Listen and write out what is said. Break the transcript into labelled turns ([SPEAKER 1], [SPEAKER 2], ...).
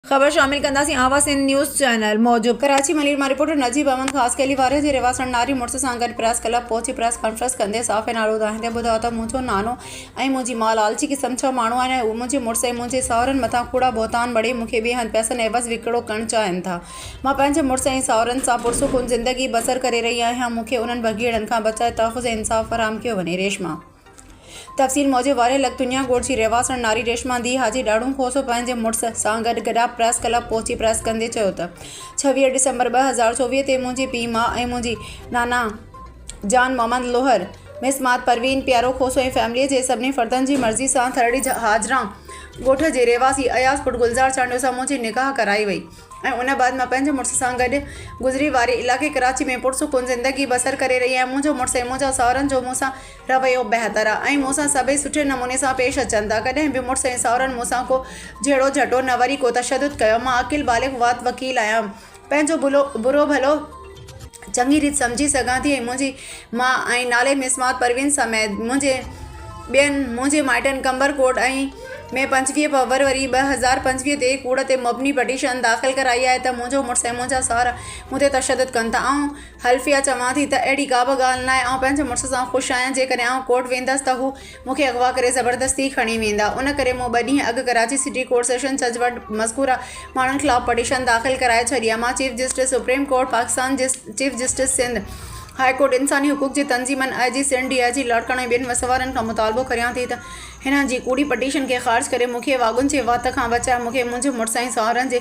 [SPEAKER 1] خبر شامل ڪنداسين آواز سنڌ نيوز چينل موجب ڪراچي ملير مان رپورٽر نجيب احمد خاص خيلي واري جي رهواسڻ ناري مڙس سان گڏ پريس ڪلب پهچي پريس ڪانفرنس ڪندي صحافين آڏو ڌائيندي ٻڌايو ته منهنجو نانو ۽ منهنجي ماء لالچي قسم جا ماڻهو آهن ۽ اهي منهنجي مڙس ۽ منهنجي ساهرن مٿان ڪوڙا بهتان مڙهي مون کي ٻئي هنڌ پئسن عيوض وڪڙو ڪرڻ چاهين ٿا مان پنهنجي مڙس ۽ ساهرن سان پرسڪون زندگي بسر ڪري رهي آهيان مون کي انهن بگهيڙن کان بچائي تحفظ ۽ انصاف فراهم ڪيو وڃي ريشما تفصيل موجب وارهيه لڳ تنيا ڳوٺ جي رهواسڻ ناري ريشما ڌيء حاجي ڏاڙهون کوسو پنهنجي مڙس سان گڏ گڏاپ پريس ڪلب پهچي پريس ڪندي چيو ته ڇويهه ڊسمبر ٻه هزار چوويهه تي منهنجي پيء ماء ۽ منهنجي نانا جان محمد لوهر مس مات پروين پيارو کوسو ۽ فيمليء جي سڀني فردن جي مرضي سان ٿرڙي هاجران ڳوٺ جي رهواسي اياز پٽ گلزار چانڊيو سان منهنجي نڪاح ڪرائي وئي ۽ ان بعد مان پنهنجي مڙس سان گڏ گذري واري علائقي ڪراچي ۾ پرسڪون زندگي بسر ڪري رهي آهيان منهنجو مڙس ۽ منهنجا ساهرن جو مون سان رويو بهتر آهي ۽ مون سان سڀئي سٺي نموني سان پيش اچن ٿا ڪڏهن به مڙس ۽ ساهرن مون سان ڪو جهيڙو جهٽو نه وري ڪو تشدد ڪيو مان عاقل بالغ وات وڪيل آهيان پنهنجو برو ڀلو چڱي ريت سمجهي سگهان ٿي ۽ منهنجي ماء ۽ نالي مسمار پروين سميت منهنجي ٻين منهنجي مائٽن قمبر ڪوٽ ۽ ۾ پنجويهه فبروري ٻه هزار پنجويهه تي ڪوڙ تي مبني پٽيشن داخل ڪرائي آهي ته منهنجو مڙس ۽ منهنجا ساهرا مون تي تشدد ڪن ٿا آئون حلفيه چوان ٿي ته اهڙي ڪابه ڳالهه ناهي آئون پنهنجي مڙس سان خوش آهيان جيڪڏهن آئون ڪوٽ ويندس ته هو مون کي اغوا ڪري زبردستي کڻي ويندا، ان ڪري مون ٻه ڏينهن اڳ ڪراچي سٽي ڪورٽ سيشن جج وٽ مذڪوره ماڻهن خلاف پٽيشن داخل ڪرائي ڇڏي آهي، مان chief justice supreme court Pakistan, chief justice Sindh high court, انساني حقوق جي تنظيمن، آء جي سنڌ، ڊي آء جي لاڙڪاڻو ۽ ٻين وسوارن کان مطالبو ڪريان ٿي ته هنن جي ڪوڙي پٽيشن کي خارج ڪري مون کي واڳون جي وات کان بچائي مون کي منهنجي مڙس ۽ ساهرن جي